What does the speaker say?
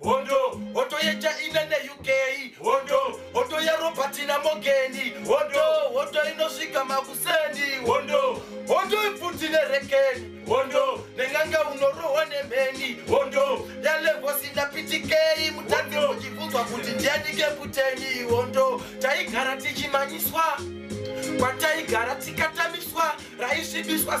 Hondo, hondo yeChina neUK, hondo, hondo yeRobert naMogeni, hondo, hondo inosvika makuseni, hondo, hondo ipfuti nerekeni, hondo, nenganga unorohwa nemheni, hondo, yalevosi ndapitikei, mutadzi muchibvunzwa kuti ndianike puteni, hondo, taigara tichimanyiswa, kwataigara tikatamiswa, raisvibiswa